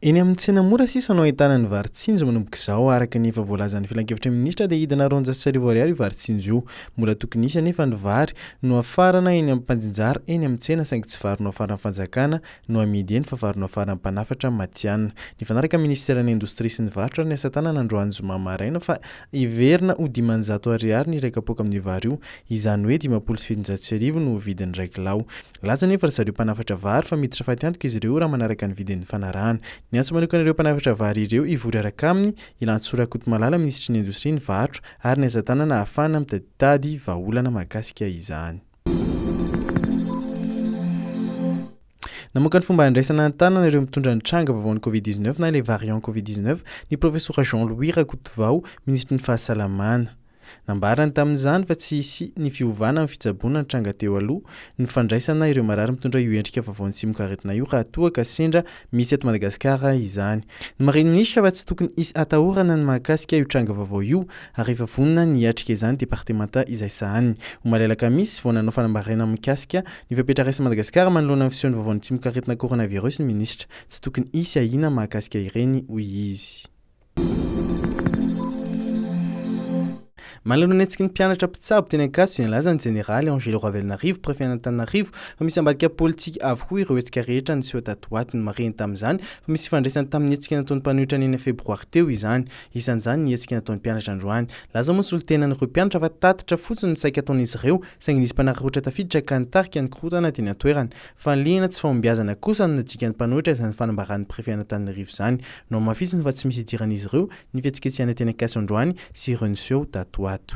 Eny amin'ny tsena mora sisa no ahitana ny vary tsinjo manomboka izao araka ny efa voalazan'ny filankevitra minisitra dia hidina roanjato sy arivo ariary io vary tsinjo io. Mbola tokony hisy anefa ny vary no afarana eny amin'ny mpanjinjara eny amin'ny tsena saingy tsy vary no afaran'ny fanjakana no amidy eny fa vary no afaran'ny mpanafatra matihanina. Nifanaraka ny minisiteran'ny indostria sy ny varotra ary ny asa tanana androany zoma maraina fa Heverina ho dimanjato Ariary ny iray kapoaka amin'io vary io, izany hoe dimampolo sy fitonjato sy arivo no vidin'ny iray kilao. Milaza anefa ry zareo mpanafatra vary fa miditra fatiantoka izy ireo raha manaraka ny vidin'ny fanarahana. Niantso manokana ireo mpanafatra vary ireo hivory araka aminy i Lantsoa Rakotomalala, minisitry ny indostria ny varotra ary ny asa tanana ahafahana mitaditady vahaolana mahakasika izany. Namoaka ny fomba handraisana an-tanana ireo mitondra ny tranga vaovaon'ny Covid 19 na ilay variant Covid 19 ny Profesora Jean Louis Rakotovao, Minisitry ny Fahasalamana. Nambarany tamin'izany fa tsy hisy ny fiovana amin'ny fitsaboana nitranga teo aloha ny fandraisana ireo marary mitondra io endrika vaovaon'ny tsimokaretina io raha toa ka sendra Misy eto Madagasikara izany. Nomarihin'ny minisitra fa tsy tokony hisy atahorana ny mahakasika io tranga vaovao io ary efa vonona ny hiatrika izany departemanta izay sahaniny. Omaly alakamisy vao nanao fanambarena mikasika ny fepetra raisin'i Madagasikara manoloana ny fisehon'ny vaovaon'ny tsimokaretina coronavirus ny minisitra. Tsy tokony hisy ahiana mahakasika ireny, hoy izy. Manoloana ny hetsiky ny mpianatra mpitsabo teny Ankatso dia nilaza ny Jeneraly Angelo Ravelonarivo, Prefen'Antananarivo, fa misy ambadika politika avokoa ireo hetsika rehetra niseho tato ho ato. Nomarihiny tamin'izany fa misy ifandraisany tamin'ny hetsika nataon'ny mpanohitra ny enina febroary teo izany. Isan'izany ny hetsika nataon'ny mpianatra androany. Nilaza moa ny solontenan'ireo mpianatra fa tatitra fotsiny no saika ataon'izy ireo, saingy nisy mpanararaotra tafiditra ka nitarika ny korontana teny an-toerana. Fanilihana tsy fahombiazana kosa no najikan'ny mpanohitra izany fanambaran'ny Prefet an'Antananarivo izany. Nohamafisiny fa tsy misy idiran'izy ireo ny fihetsiketsehana teny Ankatso androany sy ireo niseho tato ho ato.